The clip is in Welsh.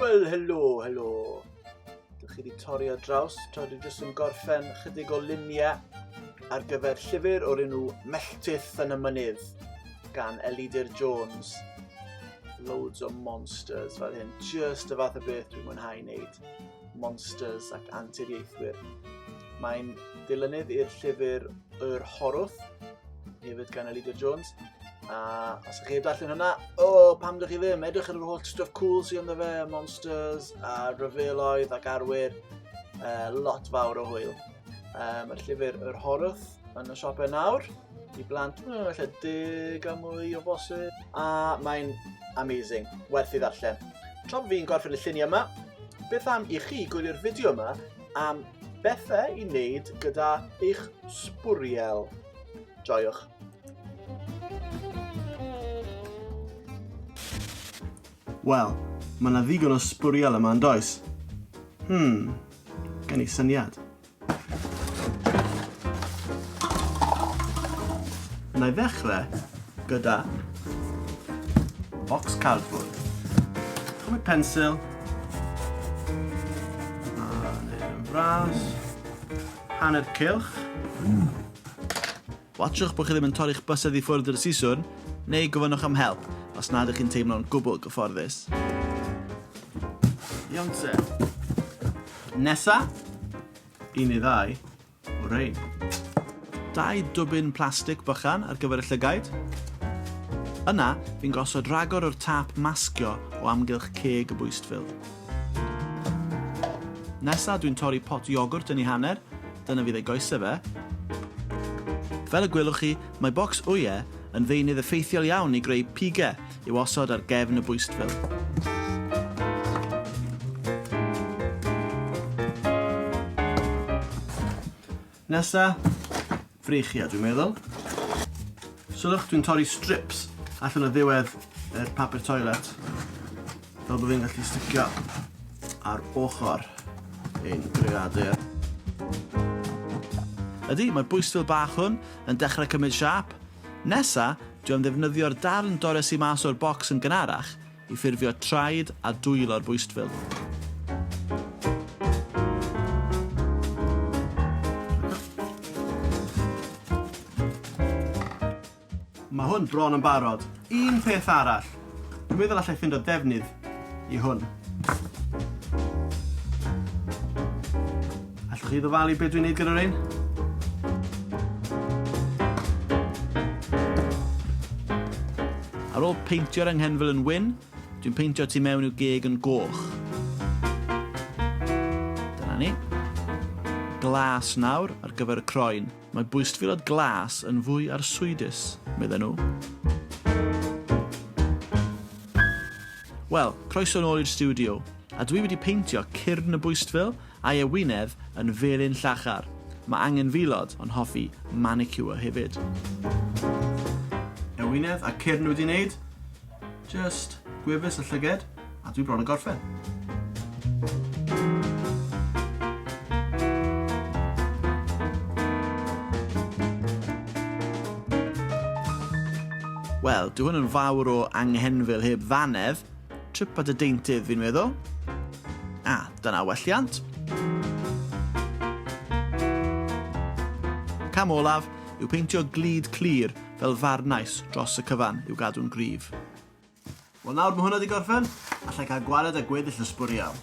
Wel, helo, helo. Dych chi wedi torri ar draws, tra dwi jyst yn gorffen chydig o luniau ar gyfer llyfr o'r enw Melltith yn y Mynydd gan Elidir Jones. Loads o monsters fel hyn, just y fath o beth dwi'n mwynhau wneud. Monsters ac Anturiaethwyr. Mae'n ddilynydd i'r llyfr Yr Horwth, hefyd gan Elida Jones. A os ydych chi'n darllen hwnna, o, oh, pam dych chi ddim? Edrych ar yr holl stuff cool sy'n ynddo fe, Monsters, a Rhyfeloedd ac Arwyr, uh, lot fawr o hwyl. Um, y llyfr Yr Horwth yn y siopau nawr i blant, mae'n mm, lle deg a mwy o bosib. A mae'n amazing, werth i ddarllen. Tra fi'n gorffen y lluniau yma, beth am i chi gwylio'r fideo yma am bethau i wneud gyda eich sbwriel. Joiwch. Wel, mae 'na ddigon o sbwriel yma yn does? Hmm, gen i syniad. Na i ddechrau gyda box cardboard. Chymryd pensil. A neud yn fras. Hanner cylch. Watsiwch bod chi ddim yn torri'ch bysedd i ffwrdd dros siswrn, neu gofynnwch am help os nad ydych chi'n teimlo'n gwbl gyfforddus. Iawn te. Nesa, un neu ddau o rein. Dau dwbyn plastig bychan ar gyfer y llygaid. Yna, fi'n gosod rhagor o'r tâp masgio o amgylch ceg y bwystfil. Nesa, dwi'n torri pot iogwrt yn ei hanner, Dyna fydd ei goesau fe. Fel y gwelwch chi, mae bocs ŵyau yn ddeunydd effeithiol iawn i greu pigau i'w osod ar gefn y bwystfil. Nesa, frechiau dwi'n meddwl. Sylwch, dwi'n torri strips allan o ddiwedd yr papur toilet. Fel bod fi'n gallu sticio ar ochr ein greadur. Ydy, mae'r bwystfil bach hwn yn dechrau cymryd siap. Nesa, dwi am ddefnyddio'r darn dores i mas o'r bocs yn gynharach i ffurfio traed a dwylo'r bwystfil. Mae hwn bron yn barod. Un peth arall. Dwi'n meddwl allai ffindo defnydd i hwn. Allwch chi ddyfalu beth dwi'n neud gyda'r ein? Ar ôl peintio'r anghenfil yn wyn, dwi'n peintio tu mewn i'w geg yn goch. Dyna ni. Glas nawr ar gyfer y croen. Mae bwystfilod glas yn fwy arswydus, medden nhw. Wel, croeso yn ôl i'r stiwdio. A dwi wedi peintio cyrn y bwystfil a'i ewinedd yn felyn llachar. Mae angenfilod yn hoffi manicure hefyd. Ewinedd a cyrn wedi wneud. Just gwefus y llyged, a dwi bron yn gorffen. Wel, dwi hwn yn fawr o anghenfil heb ddanedd, trip at y deintydd fi'n meddwl. A, ah, dyna welliant. Cam olaf yw peintio glid clir fel farnais dros y cyfan i'w gadw'n gryf. Wel nawr mae hwnna wedi gorffen, allai cael gwared â gweddill y sbwriel.